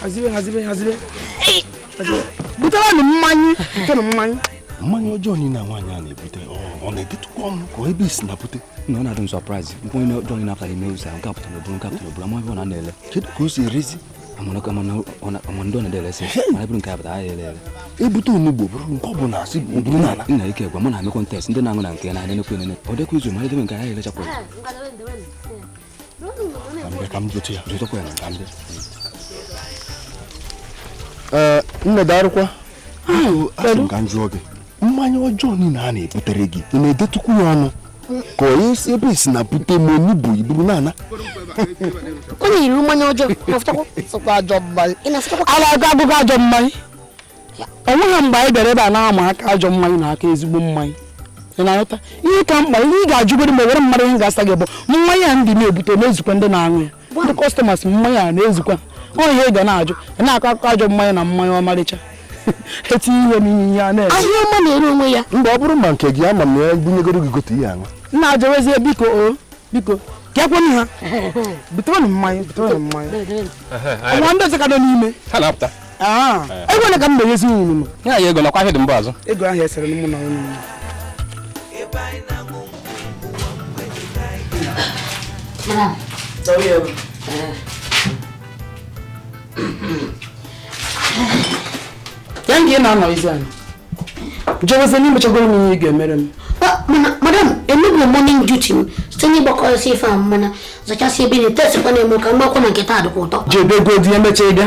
hazibe hazibe hazibe buterenụ mmanya buterenụ mmanya mmanya ọjọọ niile na nwaanyị a na-ebute ọ na-edetụkwa ọnụ ka ebe e si na-ebute na ọ na-adị m surprise mmanya ọjọọ niile apụtara ime ụzọ nke apụtara oburu nke apụtara oburu amaghị ọ na na-ele kedu ka o si erezi ama ndị ọ na-eresi mana bụrụ nke abụta ahịa ele ele ebute onugbu bụrụ nke ọ bụla asị bụrụ n'ala nna ike gwa m na-eme contest ndị na-aṅụ na nke na-adị nekwe nene ọ dịkwa izu ma edebe nke ahịa elechapụrụ ee nne darụkwa asị m ka m jụọ gị mmanya ọjọọ niile a na-ebutere gị ị na-edetụkwu ya ọnụ ka onye si ebe e si na-ebute ma onye bụ iburu na-ana onye yiri mmanya ọjọọ na-afụtakwa sọkwa ajọ mmanya ị na-afụtakwa a na-agụ agụgụ ajọ mmanya ọ nweghị mgbe anyị bịara ebe a na-ama aka ajọ mmanya na aka ezigbo mmanya ị na-aghọta ihe ka mkpa ihe ị ga-ajụgoro ma were mmadụ ihe ga-asa gị bụ mmanya a ndị na-ebute na-ezukwa ndị na-aṅụ ya ndị customers mmanya a na-ezukwa ọ ihe ị ga na-ajụ ị na-akọ akụkọ ajọ mmanya na mmanya ọmarịcha etinye ihe n'ihe ihe a na-eme ahịa ọma na-ere onwe ya mgbe ọ bụrụ ma nke gị ama m na ya bunyegoro gị gote ihe aṅụ nna jewezie biko o biko kekwenụ ha buterenụ mmanya buterenụ mmanya nwa ndị ọzọ ka nọ n'ime ha na-apụta Ah, eh. ego ole ka m na-enyezi unu ya ya ego nakwa ihe dị mba azụ ego ahụ esere m na unu ya nga ị na-anọ izi anyị jewezi na i mechagoro m ihe ị ga-emere m madam emebi morning duty m site n'ịgbakọsị ife a mana zachasị ebe na-etesikwa na-eme ka mgbakwa na nketa dịkwa ụtọ jebegodi e mechaa ị bịa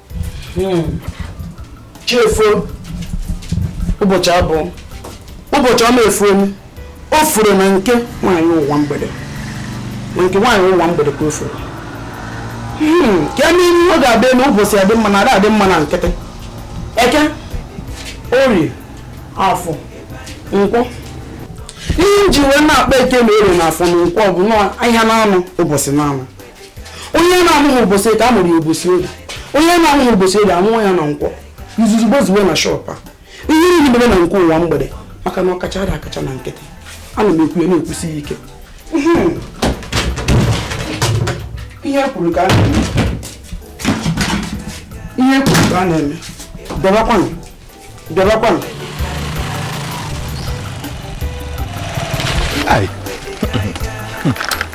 hmm. chi efoo ụbọchị a bụ ụbọchị ọma efoonu o foro na nke nwaanyị ụwa mgbede na nke nwaanyị ụwa mgbede ka o foro hmm, ka eme ihe ọ ga-adị na ụbọchị adị mma na ada adị mma na nkịtị eke orie afọ nkwọ ihe m ji wee na-akpọ eke na orie na afọ na nkwọ bụ na ahịa na anọ ụbọchị na anọ onye na-amụghị ụbọchị eke a mụrụ ya ụbọchị orie onye na-amụghị ụbọchị orie a mụọ ya na nkwọ izuzu gbozuwe na shop a ihe niile mere na nke ụwa mgbede maka na ọkacha ada akacha na nkịtị ana m ekwu ya na-ekwusi ya ike hmm. ihe e kwuru ka a na-eme ihe e kwuru ka a na-eme darụkwanụ bịabakwanụ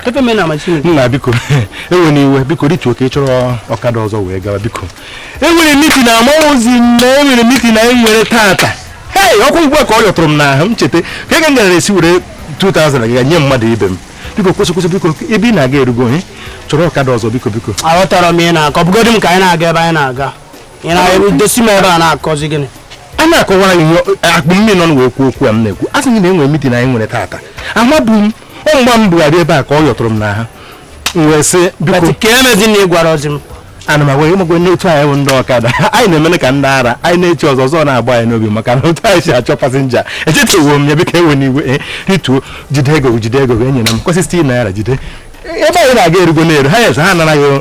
Pepe me na machine. Nna biko ewena iwe biko dị ka ị chọrọ ọkada ọzọ wee gawa biko. Enwere mitin amarọzi m na enwere mitin anyị nwere tata. Hei ọkwa ugbu a ka ọ yọtụrụ m n'ahụ m cheta ka ego m gara esi were 2000 ga nye mmadụ ibe m. Biko kwụsị kwụsị biko ebe ị na-aga erugo ị chọrọ ọkada ọzọ biko biko. Aghọtara m ihe ị na-akọ bugodi m ka anyị na-aga ebe anyị na-aga. ị na-edosi m ebe a na-akọzi gịnị ana m akọwara gị akpụ m mmiri ọnụ wee kwuo okwu a m na-ekwu asị m gị na enwere mitin anyị nwere taata amabu m ọ mgbe m bugharị ebe a ka ọ yọtụrụ m n'ahụ m wee sị biko ka emezi na ị gwara ozi m ana m agwa gị makwa na otu anyị bụ ndị ọkada anyị na-emene ka ndị ara anyị na-eche ọzọ ọzọ na-agba anyị n'obi maka na otu anyị si achọ pasinja echefuo m ya biko ewena iwe eh, rituo jide ego gị jide ego gị enyena m kwesị naira jide ebe anyị na-aga erugo na-eru ha yes ha anaraghị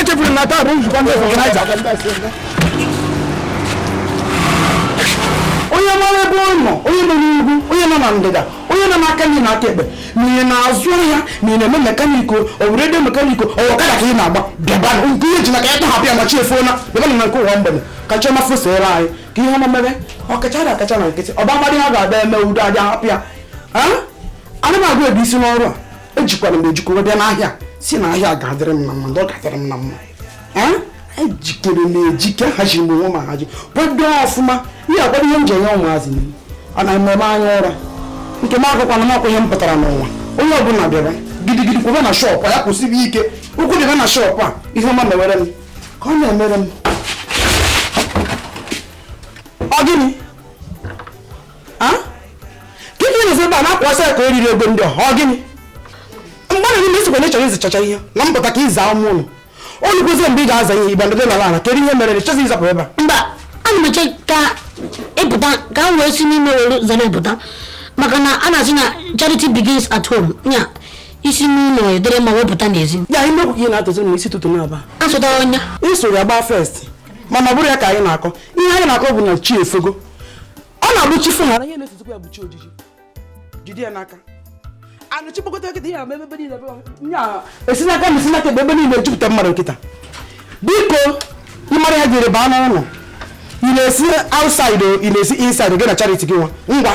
echefuru m na taa bụ nzukọ ndị ọganaiza onye mara ebe ọ nọ onye nọ n'ugwu onye nọ na ndịda onye nọ n'aka nri na aka ekpe ma ị na-azụ ahịa ma ị na-eme mekanik o ọ bụ redio mekanik o ọ ọkada ka ị na-agba bịaba nke ị ji n'aka ị tọhapụ ya na chi efoola bịaba na nke ụwa mgbede ka chi ọma fosoro anyị ka ihe ọma mere ọkacha na akacha na nkịtị ọba amadị ha ga-abịa eme udo aja hapụ ya ana m agụ ebe isi n'ọrụ a ejikere m ejike bịa n'ahịa sị na ahịa ga-adịrị m na mma ndị ọ ga-adịrị m na mma ejikere m ejike hazie onwe m hazie kwado ọfụma ihe akwado ihe m ji enye ụmụazị m a na mmemme anya ụra nke m agụkwana m akwa ihe m pụtara n'ụwa onye ọbụla bịara gidigidi kwebe na shọpụ a ya kwụsibe ike ụkwụ bịaba na shọpụ a ihe ọma mewere m ka ọ na-emere m ọ gịnị gịnị na-ezi ebe a na-akwasị ya ka o riri egbe ndị ọha ọ gịnị mgbe na n'ime ị sịkwa na ị chọrọ ịzachacha ihe na mpụta ka ị zaa ime ụlọ o rukwazie mgbe ị ga-aza ihe igba ndị nọrọ ala kedu ihe mere na ị chọzi ịzapụ ebe a mba ana m eche ka ị pụta ka m wee si n'ime were zara pụta maka na a na-asị na charity begins at home ya e si n'ụlọ adịrị mma wee pụta n'ezi ya inu okwu ị na-atụzi n'isi ụtụtụ n'aba asụtara ọnya isoro ya gbaa first mana ọ bụrọ ya ka anyị na-akọ ihe anyị na-akọ bụ na chi efogo ọ na-abụ chi fo ghara ihe na-esozikwa ya bụ chi ojiji jide ya n'aka anụ chi kpokọta kịta ihe ama ebe niile esi n'aka na esi n'aka ebe ebe niile jupụta mmadụ kịta biko ị mara ya jiri baa n'ụlọ ị na-esi outside ị na-esi inside gị na charity gị nwa ngwa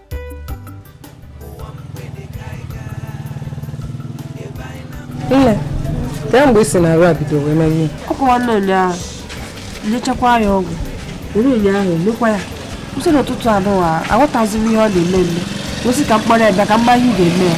nne kee mgbe ị sị na arụ a bido wee mewe ọ kwa nwanne ụnyaahụ nyechakwa ya ọgwụ o rue ụnyaahụ mekwa ya kwụsị n'ụtụtụ a nụwa aghọtazirọ m ihe ọ na-eme eme wee sị ka m kpọrọ ya bịa ka m ma ihe ị ga-eme ya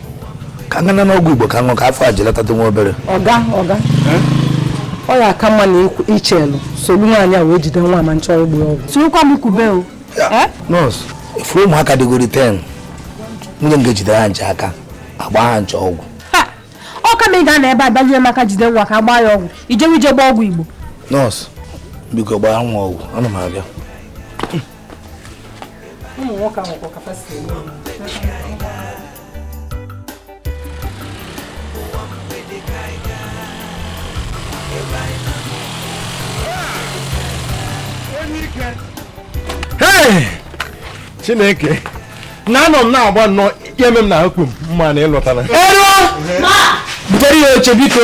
ka m gana n'ọgwụ igbo ka m ṅụ ka afọ a ji latatụ nwa obere ọga ọga ọ ya aka mma na i chelu solu nwaanyị a wee jide nwa ma nchọrọ ịgba ya ọgwụ sirikwa m kube o Eh? nọọsụ ị fụrụ ụmụaka dịgori 10 nwunye m ga-ejidere ha ncha aka agba ha ncha ọgwụ Ha! ọ kama ị ga-anọ ebe a bịazie maka jide nwa ka a gbaa ya ọgwụ ijewe ije gbaa ọgwụ igbo nọọsụ biko gbaa nwa ọgwụ ana m abịa ụmụ nwoke ahụ kwa kapasiti eme chineke nna anọ m na-agba nnọọ ya eme m na akpụ m mma na ịlọtara butere ya oche biko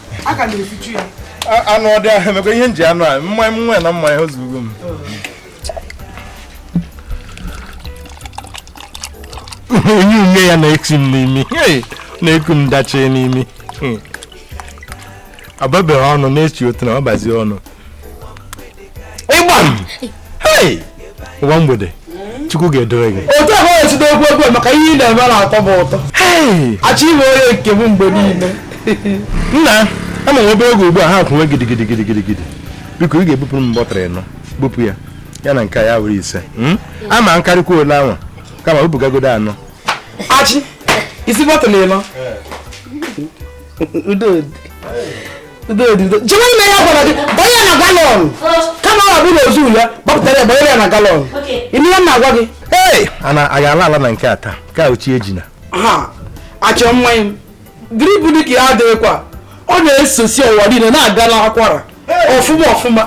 aga m efichu ya anụ ọdị ahụ emekwa ihe m ji aṅụ mmanya nwa na mmanya ozugo m onye ume ya na-eti m n'imi na-eku m dachie n'imi ababeghị ọnụ na-echi otu na ọ bazie ọnụ ịgba m ụwa mgbede chukwu ga-edore gị otu ahụ esi na-ekwu okwu maka ihe ị na-eme na-atọ m ụtọ achọ ịbụ onye nke m mgbe niile nna ama m obere oge ugbu a ha kwụnwe gidigidi gidigidi gidi biko ị ga-ebupụrụ m bọtụl anọ bupụ ya ya na nke ya were ise hmm? ọ ma karịkwa ole anwa kama bupụgagodo anọ achị isi bọtụl anọ jewe ime ihe a gwara gị gbanye ya na galọn kama ọ bụrụ ozu ya gbapụtara ya gbanyere ya na galọn ihe m na-agwa gị ee ana anyị ala ala na nke a taa ka ochi ejina ha achọ mmanya m drip dị ka ya adịghịkwa ọ na-esosi ọwa niile na-aga n'akwara ọfụma ọfụma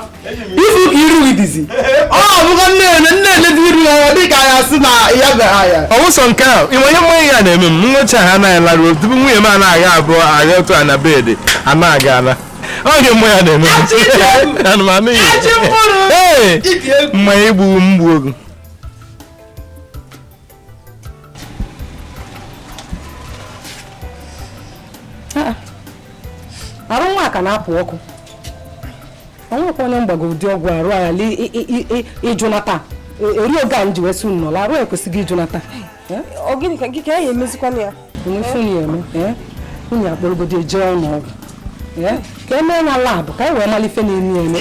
ị fụ ka iru ị dịzi ọ bụgo nne-ene nne-ene dị iru ya dị ka ya sị na ya gara ya ọwụsọ nke a o nwe ihe mmanya a na-eme m nwecha ha anaghị laruo tupu nwunye m anaghị ebu agha otu a na bedị anaghị ala oge mgbe ya na-eme aṅụ mmanya ee mmanya igbu mgbu ogu arụ nwa ka na-ekpo ọkụ o nwekwa onye m gbago ụdị ọgwụ arụ ala ịjụnata eri oge a m ji wesị nnọla arụ ekwesigo ịjụnata gịnị ka gị ka ya emezikwana ya onye eme nwunye akpọrọgodi eje ụlọ ọgwụ ka e mee ya labụ ka e wee malụ ife na-eme eme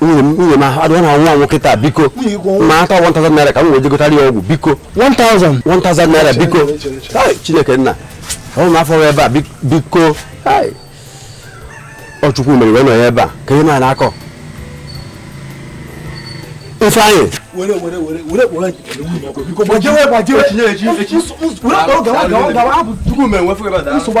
nwunye m adịghị na nwa nwoke taa biko ma ata 1000 naira ka m wee jegotara ya ọgwụ biko 1000 1000 naira biko chineke nna ọ m afọ ebe a biko ọ chukwu mere wee nọ ya ebe a ka ihe na akọ ifeanyị nsogbu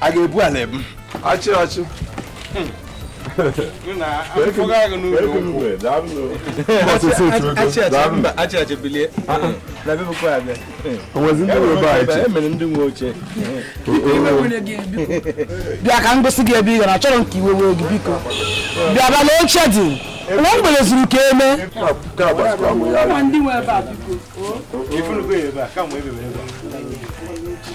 a ga-ebu ala ebu achị achị bịa ka m gosi gị ebe ị ga-anọ achọrọ m ka iwe wee gị biko bịa bịa na oche dị nwa were zuru ike eme ndị nwe ebe a biko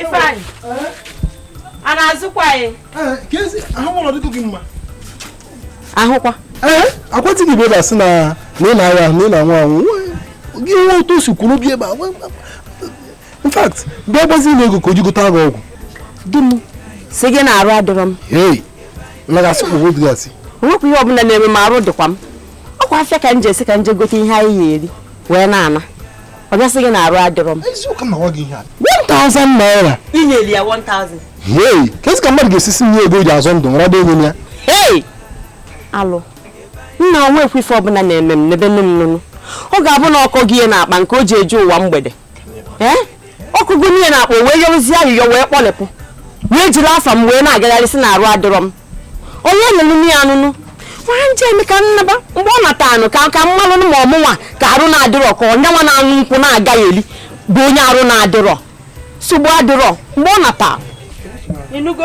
Ifeanyị a na-azụkwa ahịa ahụkwa akwatịghị ibe ebe a sị na ị na-agha na ị na-anwụ anwụ gị nwe otu o si kwuru bi ebe a in fact mgbe agbazi na ego ka o ji gote gị ọgwụ di m si gị na arụ adịrọ m hei lagasị ụgwọ dịgasị onwekwa ihe ọbụla na-eme m arụ dịkwa m ọkwa afịa ka m jere si ka m je gote ihe anyị ya eri wee na-ana ọ bịa sị gị na arụ adịrọ m eziokwu na ọ gị ihe a 1000 naira inyeli ya 1000 hei kezi ka mmadụ ga-esisi nye ego o ji azọ ndụ nrado enye m ya hei alụ nna onwekwa ife ọbụla na-eme m n'ebe nne m nụnụ ọ ga-abụ na ọ kọ gị ihe n'akpa nke o ji eje ụwa mgbede ee ọ kọgo nị ihe n'akpa wee yọrụzie ayịyọ wee kpọlepụ wee jiri afa m wee na-agagharị si na arụ adịrọ m onye nụnụ ya anụnụ nwanne m ka m naba mgbe ọ natanụ ka m malụ ma ọ mụnwa ka arụ na-adịrọ ka ọ yanwa na ụkwụ na-agagheli bụ onye arụ na-adịrọ nsogbu adịrọ mgbe ọ nata ị nụgo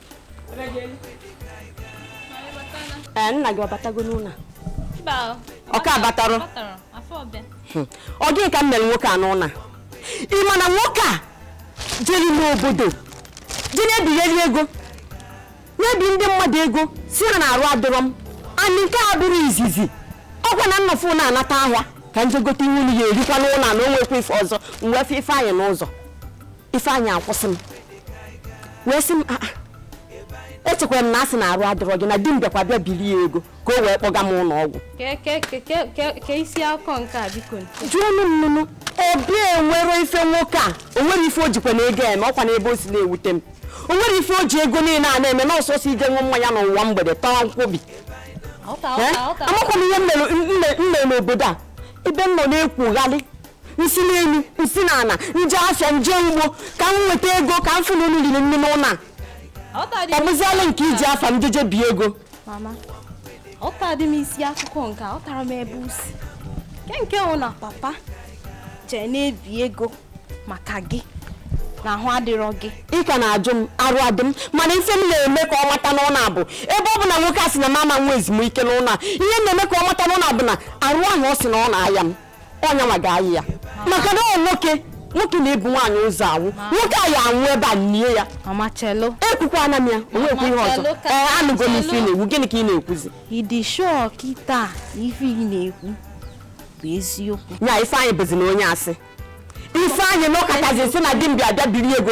ee nna gị ọ batago n'ụlọ ọ ka abatarọ hmm. ọ gịnị ka m mere nwoke a n'ụwa ị ma na nwoke a jere n'obodo jee na-ebigheri ego na-ebi ndị mmadụ ego si ha na arụ adịrọ m and nke a abụrọ izizi ọkwa na nnọfụ na-anata ahịa ka nje gote ihe unu ya erikwa n'ụlọ na onwekwa ife ọzọ m wee fụ Ifeanyị n'ụzọ Ifeanyị akwụsị m wee sị m echekwara m na a sị na arụ adịrọ gị na di m bịakwa bịa biri ya ego ka o wee kpọga m ụlọ ọgwụ ka isi akụkọ nke a biko jụọ m nnụnụ obi enwere ife nwoke a o nwere ife o jikwanụ ego eme ọ kwanụ ebe o si na-ewute m o nwere ife o ji ego niile a na-eme na ọ sọọsọ ije ṅụ mmanya n'ụwa mgbede tawa nkwobi amakwa m ihe m mere n'obodo a ebe m nọ na-ekwugharị m si n'elu m si n'ala m je afịa m je ugbo ka m nweta ego ka m fụ na unu riri nri n'ụlọ a ọ bụziala nke iji afa m jeje bie ego mama ọ tadị m isi akụkọ nke ọ tara m ebe usi nke nke ọ na papa jee na-ebi ego maka gị na ahụ adịrọ gị ị ka na-ajụ m arụ adị m mana ife m na-eme ka ọ mata n'ụlọ a bụ ebe ọ bụ na nwoke a sị na m ama nwe ezumike n'ụlọ a ihe m na-eme ka ọ mata n'ụlọ a bụ na arụ ahụ ọ sị na ọ na-aya m ọ yanwa ga-ayịa maka na ọ nwoke nwoke na-ebu nwaanyị ụzọ anwụ nwoke a ya anwụ ebe a e nie ya ekwukwana m ya o nwekwu ihe ọzọ ee anụgo m ife ị na-ekwu gịnị ka ị na-ekwuzi ị dị sure kịta ife ị na-ekwu bụ eziokwu ya Ifeanyị bụzi na onye asị Ifeanyị nọkata sị na di m bịa bịa biri ego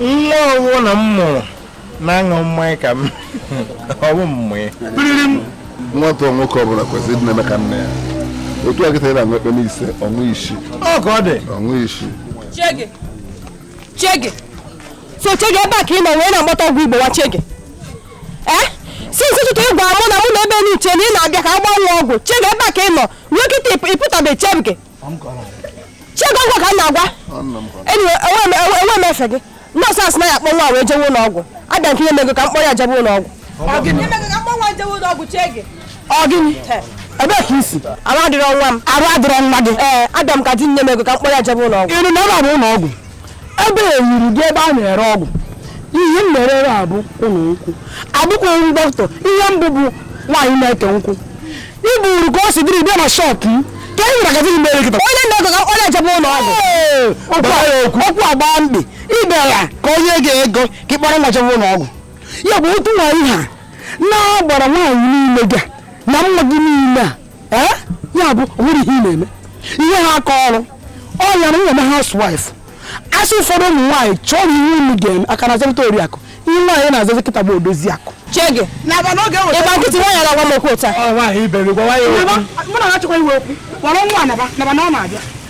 nwa ọ wụ na m mụrụ na-aṅụ mmanya ka m ọ wụ mmụọ nwata nwoke ọbụla kwesịrị ịdị na-eme ka nna ya otu a kịta ị na-aṅụ ekpem ise ọ ṅụ isii ọ ka ọ dị ọ ṅụ isii Chege. Chege. So Chege ebe a ka ị nọ wee na-akpata ego ịgwọ nwa Chege. Eh? Since ụtụtụ ị gwara mụ na mụ nọ ebe na-eche na ị na-abịa ka a gbaa nwa ọgwụ. Chege ebe a ka ị nọ. Ruo kịta ị pụtabe Chege. Chege ọ gịnwa ka m na-agwa enwe m efe gị nọọsụ asị na ya akpọ nwa wee jewe ụlọ ọgwụ abịa m ka i nye m ego ka m kpọrọ ya jebe ụlọ ọgwụ ọ gịnị ebee ka i si arụ adịrọ nwa m arụ adịrọ nwa gị ee abịa m ka i nye m ego ka m kpọrọ ya jebe ụlọ ọgwụ ebe a ọ bụ ụlọ ọgwụ ebe a eyiri gị ebe a na-ere ọgwụ ihe m na-ere ere bụ ụlọ nkwụ abụkwaghị m dọkịta ihe m bụ bụ nwaanyị na-eke nkwụ i buru ka ọ si dịrị bịa na shop m ka e nwere gazin mere kịta onye na-ego ka ọ na-ejebe ụlọ ọgwụ Ee, okwu a- okwu agba mkpi ibe ya ka o nye gị ego ka ị kpọrọ nwa jebe ụlọ ọgwụ ya bụ otu nwaanyị ha na-agbara nwaanyị niile ga na nwa gị niile a ee ya bụ nwere ihe ị na-eme ihe ha aka ọrụ ọ ya na nwere housewife a sị ụfọdụ ụmụ nwaanyị chọọnụ ihe unu ga-eme a ka na-aza kịta oriakụ ihe nwaanyị na-azazi kịta bụ odozi akụ chege ị gba nkịtị nwaanyị na-agwa m okwu ụta mụ na ha chọkwa iwe okwu kpọrọ nwa naba naba na ọ na-abịa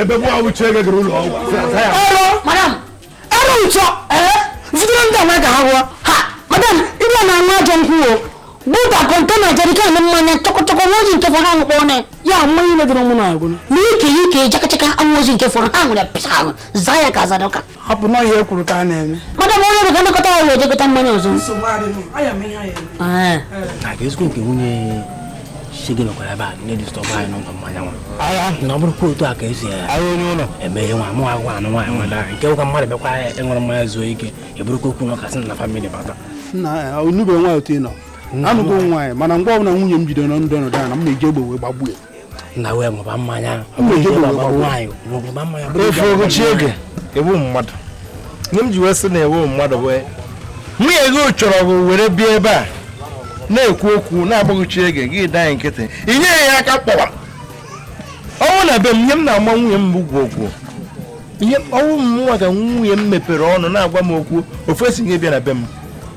ebe mụ awụ uche gị gara ụlọ ọgwụ ọrụ madam ọrụ ụtọ ee zitere ndị ọma ka ha rụọ ha madam ịbịa na nwa ajọ nkwụ o buta kọntena jerikan mmanya chọkọchọkọ nwa ozi nke fọrọ ahụ kpọọ na ya mmanya ile dịrị mụ na agwụ na ike ike jakachaka anwụ ozi nke fọrọ ha nwere pịsa ahụ zaa ya ka azadọka ọ bụ nọọ ihe e kwuru ka a na-eme madam onye ọrụ ga-anakọta ya wee jekọta mmanya ọzọ ezigbo nke nwunye shege nọkwara ebe a na-edisturb anyị n'ụlọ mmanya nwa na ọ bụrụkwa otu a ka esi eme ihe nwa mụ agwa ụnụ nwaanyị nwa dara nke ụka mmadụ bịakwa ịṅụrụ mmanya zuo ike eburukwa okwu na ụka si na family bata n'ebe nwa otu ị nọ anụgo nwaanyị mana mgbe ọbụla nwunye m bidoro na ndụ ọnọdụ ana m eji egbe wee gbagbuo na wee ṅụba mmanya efe ogochi oge ị bụ mmadụ ihe m ji wee sị na ị bụ mmadụ wee nwunye gị chọrọ gị were bịa ebe a na-ekwu okwu na-agbaghochi oge gị danye nkịtị ị nyeghị ya aka kpọwa ọ wụ na be m ihe m na-agba nwunye m bụ gwuo gwuo ihe ọ wụ m nwa ka nwunye m mepere ọnụ na-agwa m okwu ofu esi gị bịa na be m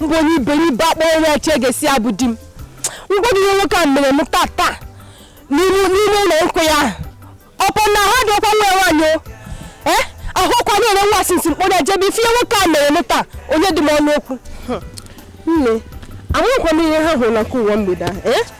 mgbe onye iberibe akpọ onye ọcha a sị bụ di m m gwa gị ihe nwoke a mere m tata n'ime ụlọ nkwụ a ọkwa na ha dị ọkwa nwa nwaanyị eh? ahụ ọkụ na-ere nwa a sị kpọrọ ejebe ife nwoke a mere m taa onye dị m ọnụ okwu nne amụkwa m ihe ha hụrụ na nke ụwa mgbede ahụ eh?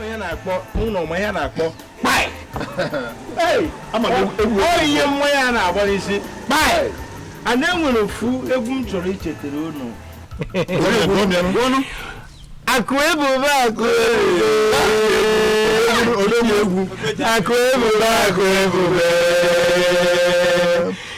onye na-akpọ ụlọ ma ya na-akpọ kpai ihe nwa ya na-agba n'isi kpai e nwere ofu egwu m chọrọ ichetara unu akụ ebube akụ ebube akụ ebube akụ ebube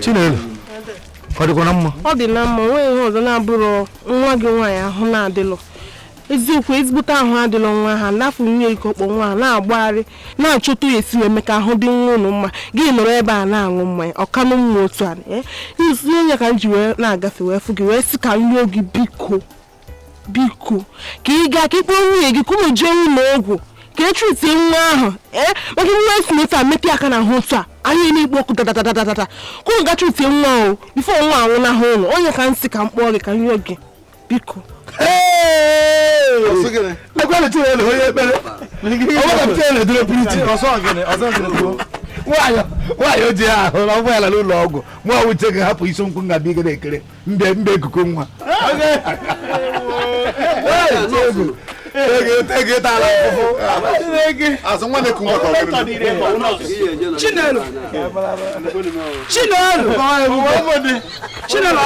Chinelo ọ dịkwa na mma ọ dị na mma o nwee ihe ọzọ na-abụrọ nwa gị nwaanyị ahụ na-adịlọ ezigbote ahụ adịlọ nwa ahụ n'ahụ nwunye gị kpọ nwa ahụ na-agbagharị na-achọta ya esi wee mee ka ahụ dị nwa ụnụ mma gị nọrọ ebe a na-aṅụ mmanya ọkanụ mma otu a ihe onye ka m ji wee na-agafe wee fụ gị wee sị ka m rịọ gị biko biko ka ị gaa ka ị kpọọ nwunye gị ka ụnụ jee ụlọ ọgwụ ka e treatie nwa ahụ ee eh? maka nwa esi na otu a metụ aka n'ahụ otu a ahụ ya na-ekpo ọkụ dadadadadada ka ụnụ ga treatie nwa ahụ before nwa anwụnahụ ụnụ ọ ya ka m sị ka m kpọọ gị ka m yọọ gị biko ekwalite ya na onye ekpere ọgbakọpụta ya na edoro pụrụ iche nwaanyị o ji ahụ na ụgbọala n'ụlọ ọgwụ nwa uche ga-ahapụ isi nkwụ ngabi ị ga na-ekere mbe mbe ekuku nwa azụ nwa na-eku nwa ka ọ bụrụ Chinelo Chinelo Chinelo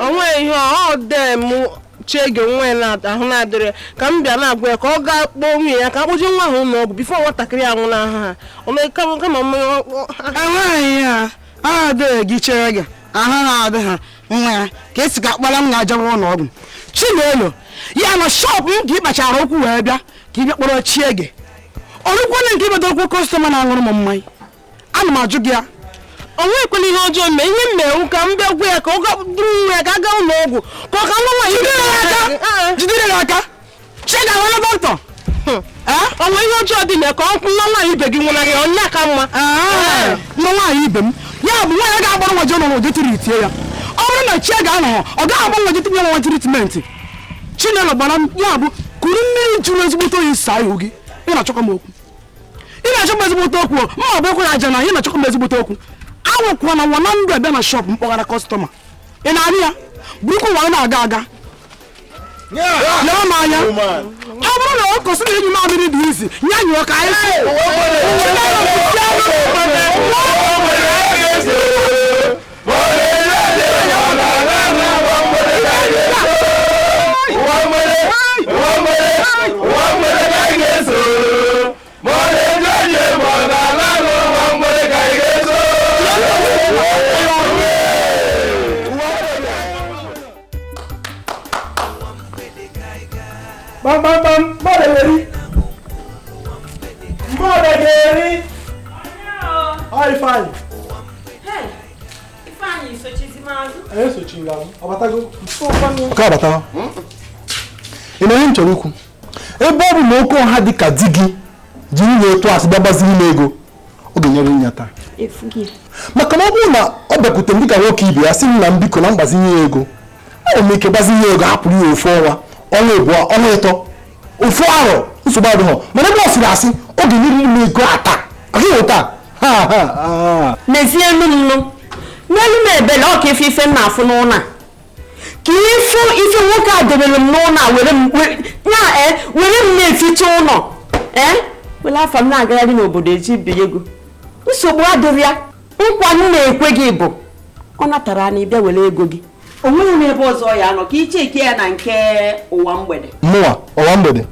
ọ nweghị ihe ọ dee mụ chiege nwa ya na- ahụ na-adịrị ya. ka m bịa na-agwa ya ka ọ gaa kpọọ nwunye ya ka a kpọje nwa ahụ ụlọ ọgwụ before nwatakịrị anwụna ha ọ mee kama kama mmanya ọ- ọ- enweghị ihe a a dịghị gị chere gị aha ha adị ha nwa ya ka a sị ka a kpọrọ ya jewe ụlọ ọgwụ chinelo ya na shop m ka ị kpachara okwu wee bịa ka ị bịa kpọrọ Chiege o rukwala nke ịbata okwu customer na-aṅụrụ m mmanya ana m ajụ gị ya o nwekwala ihe ọjọọ mee ihe m me wụ ka m bịa gwa ya ka ọ gaa buru nwa ya ka a gaa ụlọ ọgwụ ka ọ ka nwa nwaanyị jidere ya aka Chiege nwere bọntọ ọnwa ihe ọjọọ dị na ka ọ nwa nwaanyị ibe gị nwụnarị onye ka mma nwa nwaanyị ibe m ya bụ nwaanyị ga-agbara nwa jọn nwa jetiri itie ya ọ bụrụ na Chiege anọghọ ọ gaghị agba nwa jetinye nwa treatment chinelo gbara m ya bụ kuru mmiri jụrụ ezigbote oyi saa ihu gị ị na-achọkọ m okwu ị na-achọ m ezigbote okwu ma ọ bụ ekwere aja na ị na-achọkọ m ezigbote okwu awụkwa na nwa na ndụ abịa na shop m kpaghara customer ị na-arị ya bụrụkwa nwa na-aga aga nee m anya ọ bụrụ na ọkụkọ sị na ịnyụ mamịrị dị easy ya nyụọ ka anyị si kpamkpamkpam mmadụ ga-eri mmadụ ga-eri ọ ifeanyị esochila m ọ batago nke ọ batago ị ma ihe m chọrọ ikwu ebe ọ bụ na oke ọha dị ka di gị jiri ịtụ asị gbagbaziri m ego ọ ga-enyere m ya taa maka na ọ bụrụ na ọ bịakwute m dịka nwoke ibe ya sị m nna m biko na m gbazinye ya ego enwere m ike gbazinye ego hapụrụ ya ofu ọnwa ọnwa abụọ ọnwa ịtọ ofu arọ nsogbu adịghọ mana ebe ọ sịrị asị ọ ga-enyere m ego a taa a bụ taa n'ezie elu m nụ meelu m ebele ọ ka ịfụ ife m na-afụ n'ụlọ a ka ịfụ ife nwoke a debere m n'ụlọ a were m na-eficha ụlọ were afa m na-agagharị n'obodo eji binye ego nsogbu adịrọ ya nkwa m na-ekwe gị bụ ọ natara anyị bịa were ego gị o nweghị m ebe ọzọ ya nọ ka icheke ya na nke ụwa mgbede mụwa ụwa mgbede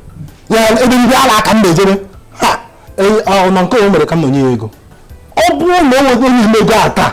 ya ebe ndị ala aka m na-ejere e, nọ nke o mere ka m nọ nye ya ego ọ bụrụ na o nwego onye ego a taa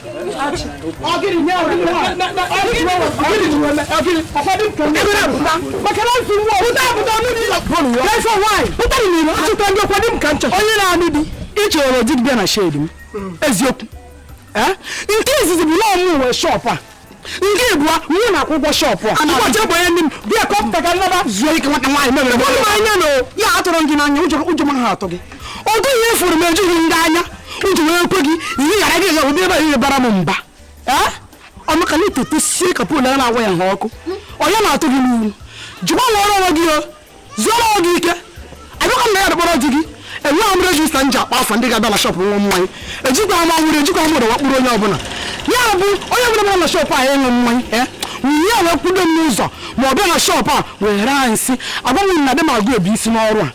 ọgịrị nye ọgịrị ụfọdụ kemgbe pụta maka na nsogbu pụta pụta n'ụlọ ụlọ pụrụ ya n'efe nwaanyị pụta n'ụlọ achụta ndị ọkwa di m ka nchọ onye na-anụ di ị chọrọ di bịa na shedi m eziokwu nke izizi bụ na ọ mụ nwe shọp a nke ịbụa nwunye na-akwụ ụgwọ shọpụ a ụbọchị bụ onye ndị m bịa ka ọ pụta ka nnaba zuo ike nwata nwaanyị mebere mmadụ anya na ya atụrụ gị n'anya ụjọ ụjọ ama atụ gị ọ dịghị ihe furu m ejughị ndị anya ụjọ wee kwe gị ihe ghara gị ụdị ebe ihe baara m mba ọnụ ka na-etete sie ka pol na-agwa ya ha ọkụ onye na-atụ gị ụjọ gbanwe ọrụ onwe gị o zuoro onwe gị ike abịakwa m na ya dịkpọrọ di gị enweghị m rejista m ji akpọ afa ndị ga-abịa na shọpụ ṅụa mmanya ejikwa m ọhụrụ ejikwa m ụdọ wee kpụrụ onye ọbụla ya bụ onye ọbụla bịara na shọpụ anyị ịṅụ mmanya ee nwunye ya wee kwudo m n'ụzọ ma ọ bịa na shọpụ a wee rie anyị nsị agbanwe m na di m agụ ebi isi n'ọrụ a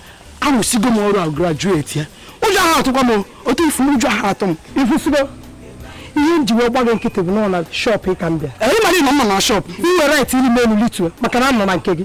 arụsigo m ọrụ a grajueti ya ụjọ ahụ atụkwa m o. otu ị fụ ụjọ ahụ atụ m i kwusigo ihe m ji wee gba gị nkịtị bụ na ọ na shọpụ ị ka m bịa ee ị mara ị nọ mma na shọpụ i nwere rait iri m elu litu maka na m nọ na nke gị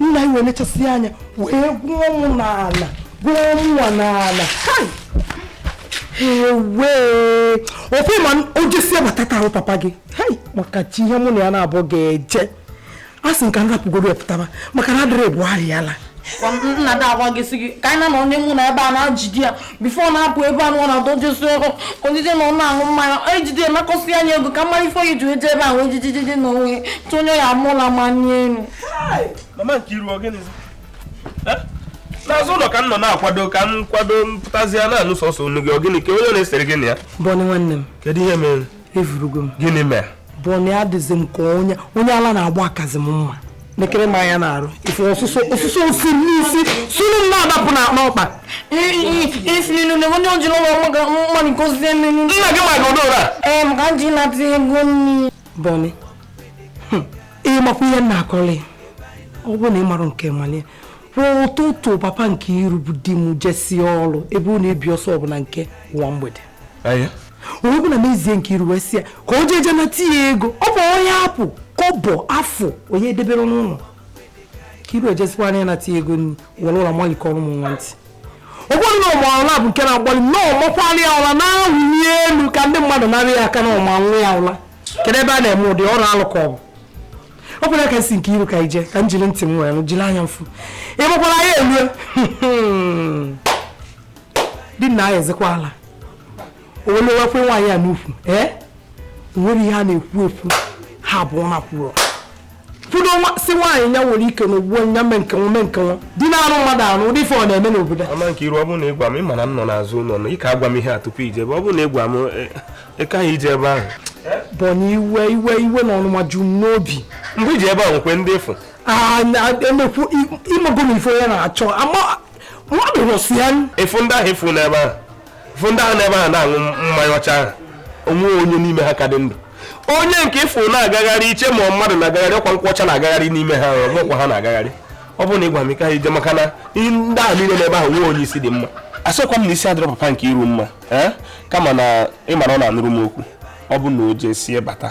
nna anyị wee nechasịa anya wee gwụọ mụ n'ala gwụọ mụwa n'ala ewee ofe ma o jesịa bata ka ahụ papa gị maka chi ihe mụ na ya n'abọ ga-eje asị m ka m rapụgodu ya pụtaba maka na adịrọ ebu ahụ ya la nna da agwa gị sị gị ka anyị na-anọ n'ime ụlọ ebe a na-ajide ya bifo ọ na-apụ ebe a na adọjesi ọrụ o jeje na ọ na-aṅụ mmanya ejide ya nakọsịa ya ego ka mmadụ ife o ji eje ebe ahụ ejijijiji na o wee tụnye ya mụla ma nye elu n'azụ ụlọ ka m nọ na-akwado ka m kwado mpụtazi ya na-anụ sọsọ onu gị ọ gịnị ka unu na-esere gị na ya bọnị nwanne m kedu ihe mere efurugo m gịnị mere bọnị adịzi m ka onye onye ala na-agba akazi m mma nekiri m anya na-arụ ife ọsụsọ ọsụsọ o si n'isi sunu m na-adapụ na akpa ọkpa isilinu na onye o jiri ụlọ mmadụ nke osisi emenu nna gị maka odora ee eh, maka m ji na-atụ ego nri bọnị hmm. ị makwa ihe m na-akọrị ọ bụrụ na ị mara nke manye kwụọ ụtụtụ papa nkiru bụ di m jesie ọrụ ebe ọ na-ebi ọsọ ọbụla nke ụwa mgbede onye bụla mezie nkiru wee sị ya ka o jeje nata ya ego ọ bụ onye apụ kọbọ afọ onye edebere n'ụlọ nkiru ejesikwana ya nata ya ego nri were ụla malikọọrọ m nwa ntị ọ bụrụ na ọ maa ụla bụ nke na-agbalị na ọ makwara ya ụla na-awụli elu ka ndị mmadụ nara ya aka na ọ ma nwa ya ụla kedu ebe a na-eme ụdị ọrụ alụ ka ọ bụ ọ bụrụ ka sị nkiru ka i jee ka m jiri ntị m were jiri anya m fụ ị makwara ya elue di na ya ezekwa ala owelewekwe nwaanyị a n'ukwu ee eh? nwere ihe a na-ekwu ekwu ha abụọ na kwuru fụdo si nwaanyị ya nwere ike na ugbo nya mee nke nwa mee nke nwa di na-arụ mmadụ arụ ụdị ife ọ na-eme n'obodo a mama Nkiru ọ bụrụ na ịgwa m ịma na m nọ n'azụ ụlọ na ị ka agwa m ihe a tupu ije ebe ọ bụrụ na ịgwa m ịka e, e ha ije ebe ahụ bụ na iwe iwe iwe na ọnụma ju m n'obi mgbe iji ebe a nwekwe ndị ịfụ ah, emekwu amago m ife onye na-achọ mmadụ nwụsịa ịfụ ndị ahụ ịfụ n'ebe ahụ ịfụ ndị ahụ n'ebe ahụ na-aṅụ mmanya ọcha ahụ o nwee onye n'ime ha ka dị ndụ onye nke ịfụ na-agagharị iche na mmadụ na-agagharị ọkwa nkwụ ọcha na-agagharị n'ime ha nkwụ ọcha na-agagharị ọ bụrụ na ịgwa m ike ha ije maka na ndị ahụ niile n'ebe ahụ nwee onye isi dị mma asịkwa m na isi adịrọ papa Nkiru mma kama na ịma na ọ na-anụrụ m okwu ọ bụ na o jee sie bata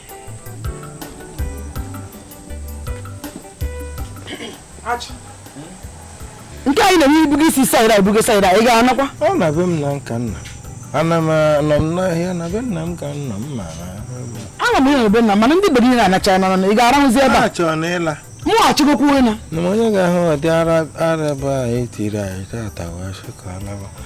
nke anyị na-enwe ibugo isi saịda ibugo saịda ị ga-anakwa ọ na be m na nka nna ana m anọ m n'ahịa na be nna m ka nna m mara ana m ịnọ be nna mana ndị be gị na-anacha na ị ga-arahụzi ebe a chọrọ na ịla mụ achịgokwu ịna na onye ga-ahụ ọdị ara ara ebe a etiri anyị tata wee sị ka ọ naba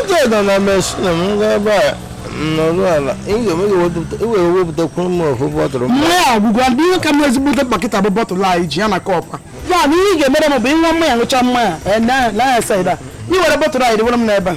oge nọ na machine m gaa ebe a nọrụ ala ị ga-ewere wepụtakwuru m ofu bottle mmanya agwụgwa ndị ihe ka m ezigbote pakịta bụ bottle anyị ji ya na kọpa ya na ihe ị ga-emere m bụ ịṅụọ mmanya ṅụcha mmanya ee, na- na ya saịda i were bottle anyị dịwere m n'ebe a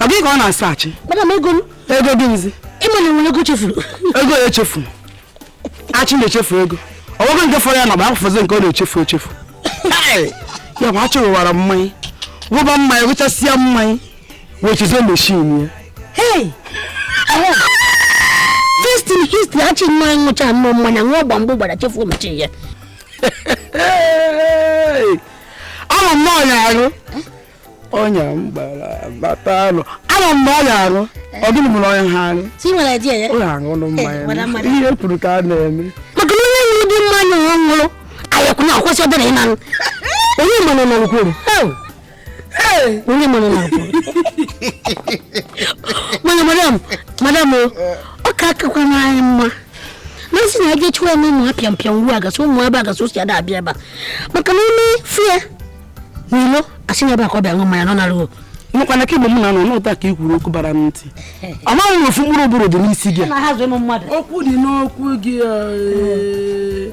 ọ gị ka ọ na-asaghachi madam ego m ego dị nzi ịma na enwere ego chefuru ego ya echefuru achị na-echefu ego ọgwụgwọ nke fọrọ ya na bụ afọzi nke ọ na-echefu echefu ya bụ achị ṅụwara mmanya ṅụba mmanya ṅụchasịa mmanya wee chezọọ machine ya hey destin history achị nwa ṅụcha nnọọ mmanya ṅụọ gbamgbụ gbara chefuo machine ya ama m na ọnya arụ ọnya m gbara bata alụ ama m na ọnya arụ ọ dịrị m na ọnya ha arụ ọ ya aṅụrụ mmanya ihe kwuru ka a na-eme maka na onye nwere ụdị mmanya ọ ṅụrụ ayakụ na akwụsị obere ịnanụ onye mmanụ nọ nkwuru onye mara na mana madam madam o ọ ka akakwanụ anyị mma na nsị na eje chụwa eme ụmụ apịa mpịa ngwu agasị ụmụ ebe agasị osi ada abịa ebe a maka na ime fie n'ilo asị na ebe akọ bịa ṅụ mmanya nọ na ruo nnukwu na kemgbe m na anọ n'ụta ka i kwuru okwu bara m ntị amaghị m ofu mkpụrụ ụbụrụ dị n'isi gị okwu dị n'okwu gị eh.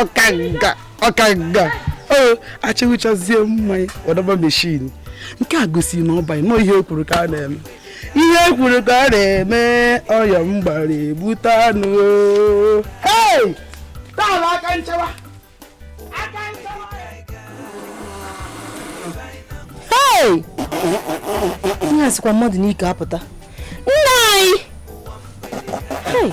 ọkanga ọkanga o achị ṅụchazie mmanya ọ dọba meshin nke a gosiri na ọ banye nọ ihe o kwuru ka a na-eme ihe o kwuru ka a na-eme ọ ya m gbara egbute anụ hei taala aka nchewa aka nchewa hei ihe a sikwa mmadụ n'ike apụta nna anyị hei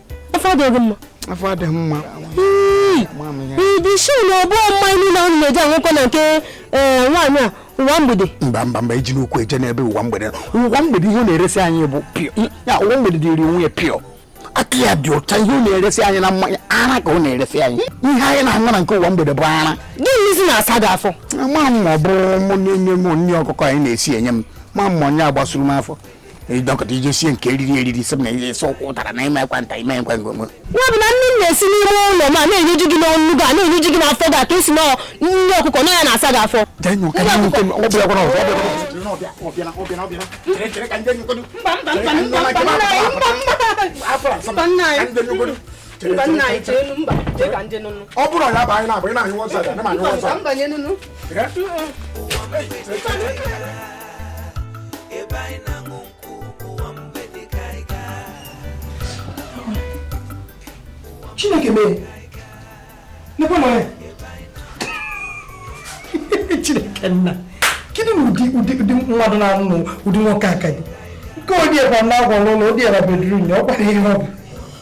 afọ adịghị mma afọ adịghị mma ibisi na ọ bụ mmanya niile ahụ na-eji aṅụkọ na nke eh, nwaanyị a ụwa mgbede mba mba mba iji n'ukwu eje n'ebe ụwa mgbede ụwa mgbede ihe na-eresi anyị bụ pure ya ụwa mgbede dịrị onwe ya pure aka ya dị ụcha ihe ọ na-eresi anyị na mmanya ara ka ọ na-eresi anyị ihe anyị na-aṅụ na nke ụwa mgbede bụ ara gịnị si na-asa gị afọ ma m ọ bụ mụ na-enye m nri ọkụkọ anyị na-esi enye m ma m onye gbasuru m afọ ịdọkọta ije sie nke eriri eriri sị m na esi ụkwụ ụtara na ime ekwanta ime ekwe ngwọngwọ ya bụ na nne m na-esi n'ime ụlọ m na-enyeju gị n'ọnụ gị a na-enyeju gị n'afọ gị a ka esi na nne ọkụkọ na ya na-asa gị afọ ọ bụrụ ya bụ anyị na-abụ ị na-anyụ wọsa chineke mee nekwe na ya chineke nna kedu na ụdị ụdị ụdị mmadụ na-anụ na ụdị nwoke aka gị nke ọ dị ebe a na agwa n'ụlọ ọ dị ebe a bedroom ya ọ kwara ihe ọ bụ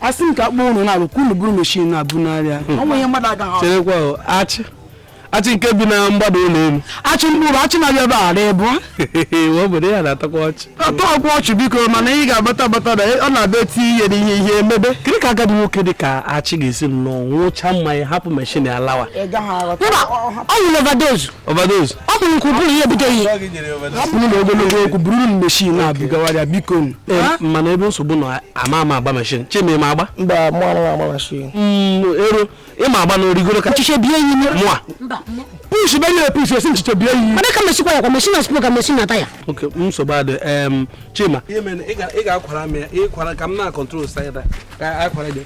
asị m ka akpọ ụnụ na abụọ ka unu buru meshin na-abụ n'arịa hmm. o nwe ihe mmadụ agaghị cherekwa achị achị nke bi na mgbada ụlọ elu achị mkpụrụ achị na-abịa ebe a na-ebu obodo ya na-atọkwa ọchị atọkwa ọchị biko mana ị ga-agbata agbata na ọ na-abụ eti ihe na ihe ihe emebe kedu ka agadi nwoke dị ka achị ga-esi nnọọ ṅụcha mmanya hapụ meshin alawa ọ ṅụrụ overdose Overdose. ọ bụ nke ụbụrụ ihe butere ihe Ọ gị nyere overdose. hapụrụ na ogologo okwu buru m meshin na-ebugawara biko nụ. Ee, mana ebe nsogbu nọ ama ama agba mashin chima ị ma agba mba mụ anaghị agba mashin Mm, ero ị ma agba na origoro ka ọchịchị bie yi nye mụa push be nyere push esi nchiche bie yi mana ka mesikwa ya kwa mesi na spro ka mesi na taya okay nsogbu adịghị em chima ihe mere na ị ga- ị ga-akwara m ya ị kwara ka m na-acontrol saịda ka akwara gị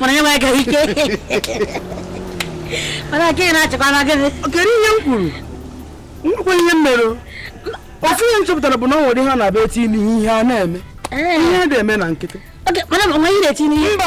mana ya agaghị ike mana aka ị na-achịkwa na gịnị kedu ihe m kwuru nwekwa ihe m mere ofu ihe m chọpụtara bụ na o nwere ihe a na-abụ eti n'ihe ihe a na-eme ihe adịghị eme na nkịtị mba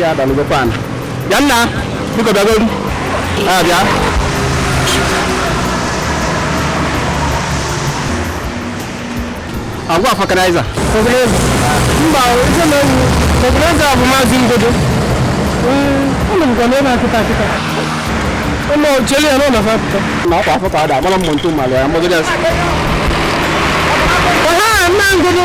ya dalụgokwa ana bịa nna biko bịagodu a bịa agwa vulcanizer mba ife na ewu vulcanizer bụ maazị ngodo ụlọ nke na ebe kịta kịta ụlọ cheli ya n'ụlọ fapụta na ọkwa afọ ka ọ da agbara mmụ ntụ mmalụ ya mmadụ ya ọha nna ngodo